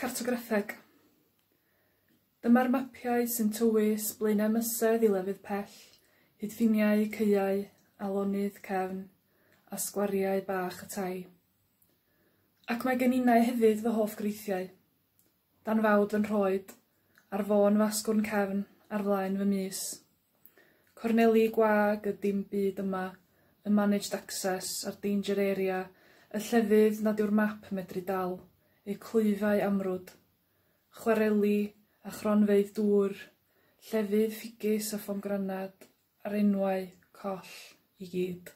Cartograffeg. Dyma'r mapiau sy'n tywys Blaenau Mysedd i lefydd pell, hyd ffiniau, caeau, alonydd, cefn, a sgwariau bach y tai. Ac mae gen innau hefyd fy hoff greithiau. Dan fawd yn rhoed ar fôn fasgwrn cefn ar flaen fy mys. Corneli gwag y dim byd yma, y managed access a'r danger area, y llefydd nad yw'r map medru dal, eu clwyfau amrwd. Chwareli a chronfeydd dŵr, llefydd ffigys a phomgranad, a'r enwau coll i gyd.